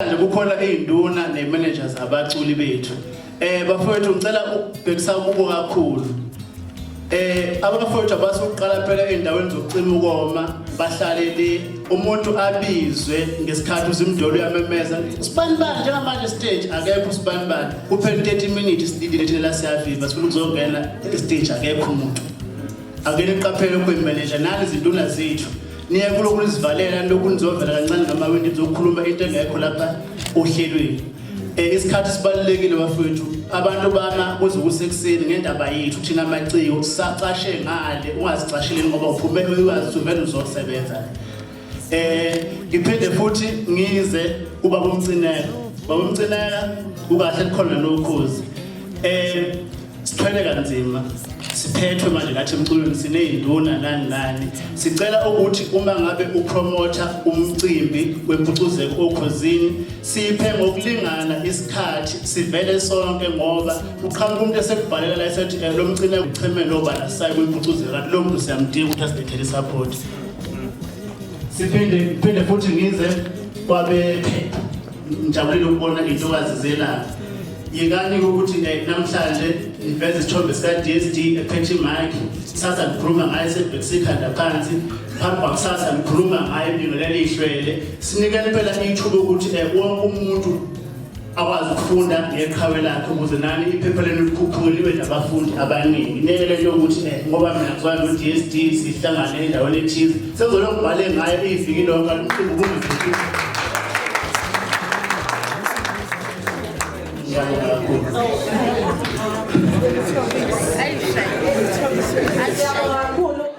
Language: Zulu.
Manje kukhona izinduna ne managers abaculi bethu. Eh bafowethu ngicela ukubhekisa kubo kakhulu. Eh abafowethu abasuqala phela endaweni zokucima ukoma bahlale le umuntu abizwe ngesikhathi uzimdolo uyamemeza sibanibani njengamanje stage akekho sibanibani kuphela 30 minutes sididile thina la siyaviva sifuna ukuzongena stage akekho umuntu ake niqaphele ukuyimanager nani izinduna zethu niye kulokhu nizivalela lokhu nizovela kancane ngamawindi nizokhuluma into engekho lapha ohlelweni um isikhathi sibalulekile bafowethu abantu bama kuze kusekuseni ngendaba yethu thina maciko sisacashe ngale ungazicasheli ngoba uphume uyazi uvele uzosebenza eh ngiphinde futhi ngize kuba kumcinela bawumcinela kukahle kukhona nokhozi eh sithwele kanzima siphethwe manje lathi emculweni sineyinduna nani nani sicela ukuthi uma ngabe upromotha umcimbi wempucuzeko okhozini siphe ngokulingana isikhathi sivele sonke ngoba uqhamuka umuntu esekubhalela la esethi eh, lo mcine uchemelo obala sayi kwimpucuzeko kanti lo muntu siyamdinga ukuthi asibethele support siphinde phinde futhi ngize kwabephe ngijabulile ukubona intokazi zelanga yekani ukuthi namhlanje ngiveze isithombe sika-d s d ephethe imike kusasa ngikhuluma ngayo sebhekisa ikhanda phansi phambi kwakusasa ngikhuluma ngayo ibingelela ihlwele sinikela impela ithuba ukuthi um wonke umuntu akwazi ukufunda ngeqhawe lakhe ukuze nani iphepha lenu likhuphule libe nabafundi abaningi ngeke le nto ukuthi eh, ngoba mina ngizwa no-d s d sihlangane endaweni ethize sengizolokhu bhale ngayo iyiviki lonke alumqimbi kumviki kakhulu